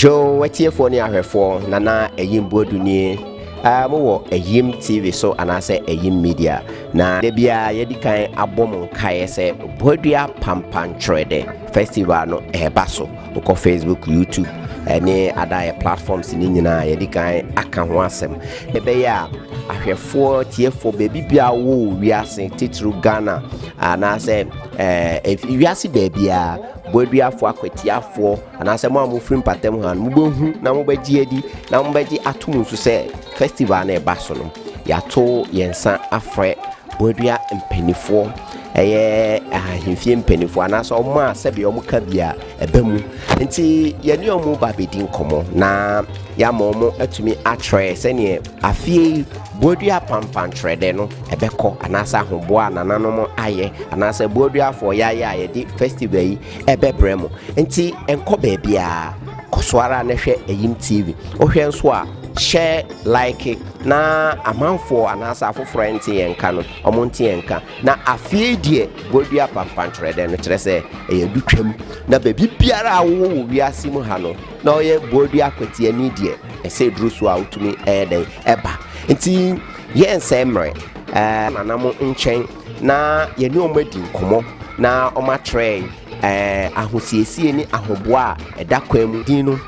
Dwow atiefoɔ ne ahwɛfoɔ Nana Ayim Boadu nie a mowɔ Ayim TV so anaasɛ Ayim Media na da biara yɛdi kan abɔ mo nkaeɛ sɛ Boadua Pampantwerɛdɛ Festival no ɛreba so wokɔ Facebook, YouTube ɛne adaeɛ platforms ne nyinaa yɛdi kan aka ho asɛm ɛbɛyɛ a ahwɛfoɔ tiefoɔ baabi biara wɔ wiase titiriw Ghana anaasɛ ɛɛ wiase baabiara Boaduafoɔ akwatiafoɔ, anaasɛ mo a mofiri mpatam ha no, mobɛhu na mobɛgye adi na mobɛgye atom nso sɛ festival no ɛba so no, yɛato yɛn nsa afrɛ boadua mpanimfoɔ, ɛyɛ ahemfie mpanimfoɔ anaasɛ wɔn a sɛdeɛ wɔn ka bi a ɛba mu. Nti yɛne wɔn ba bɛdi nkɔmmɔ na yɛama wɔn atumi akyerɛ sɛdeɛ Afei yi, boadua pampankyerɛdɛ no bɛkɔ, anaasɛ ahoboa a nananom ayɛ, anaasɛ boadua fɔeɛayɛ a yɛde festival yi bɛbrɛ mo. Nti nkɔ baabiara, kɔ so ara na hwɛ Ayim TV. Wohwɛ nso a, hyɛ like na amanfoɔ anaasɛ afoforɔ a ɛnte yɛn nka no, wɔn nte yɛn nka. Na afei yi deɛ, boadua pampankyerɛdɛ no, kyerɛ sɛ ɛyɛ adutwam, na baabi biara a wowɔ wɔ wiase mu ha no, na ɔyɛ boadua kwatiani deɛ, ɛsɛ ɛduru so a wotumi ɛyɛ dɛn ɛba. Nti yɛn nsɛe mmerɛ, ɛɛ nanam nkyɛn na yɛne wɔn adi nkɔmmɔ na wɔn akyerɛ ɛɛ ahosiesie ne ahoboa a ɛda kwan mu. Din no,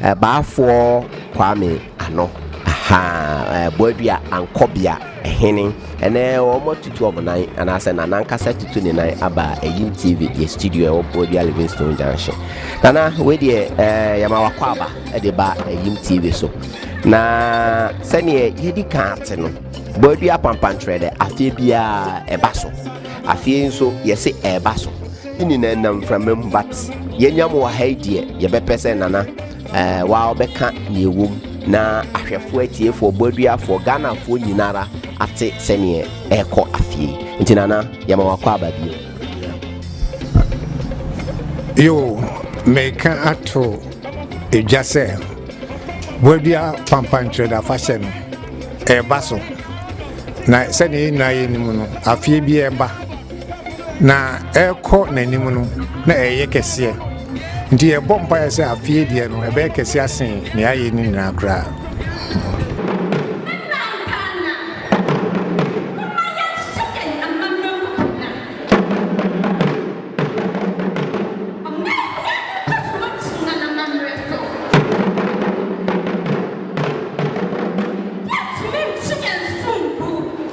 Baafoɔ Kwame. ano. Ahaa, ɛɛ, boadua, ankɔbea, ɛhene, ɛnɛ wɔn atutu wɔn nan anaasɛ nana ankasa tutu ne nan aba ɛyim tv yɛ studio ɛwɔ boadua livingstone junction nana wei deɛ ɛɛ yɛma wakɔ aba ɛde ba ɛyim tv so na sɛdeɛ yɛdi kan ate no boadua pampantrɛ dɛ afeɛ biara ɛba so afeɛ nso yɛse ɛba so ne nyinaa nam mframa mu but yɛnya mu wɔ ha yi deɛ yɛbɛpɛ sɛ nana Eh waa ɔbɛka nea ɛwɔ mu na ahwɛfoɔ atiefoɔ bɔaduafoɔ Ghanafoɔ nyinara ate sɛneɛ ɛrekɔ afie nti nana yɛma wakɔ aba bio. Yo meka ato edwa sɛ bɔadua pampankyerɛda afahyɛ no ɛreba so na sɛdeɛ yɛn nyinaa yɛnim no afie bi ɛreba. Na ɛrekɔ n'anim no, na ɛreyɛ kɛseɛ. Nti yɛbɔ mpaeɛ sɛ afeɛ deɛ no, ɛbɛyɛ kɛseɛ asen nea ayɛ no nyinaa koraa.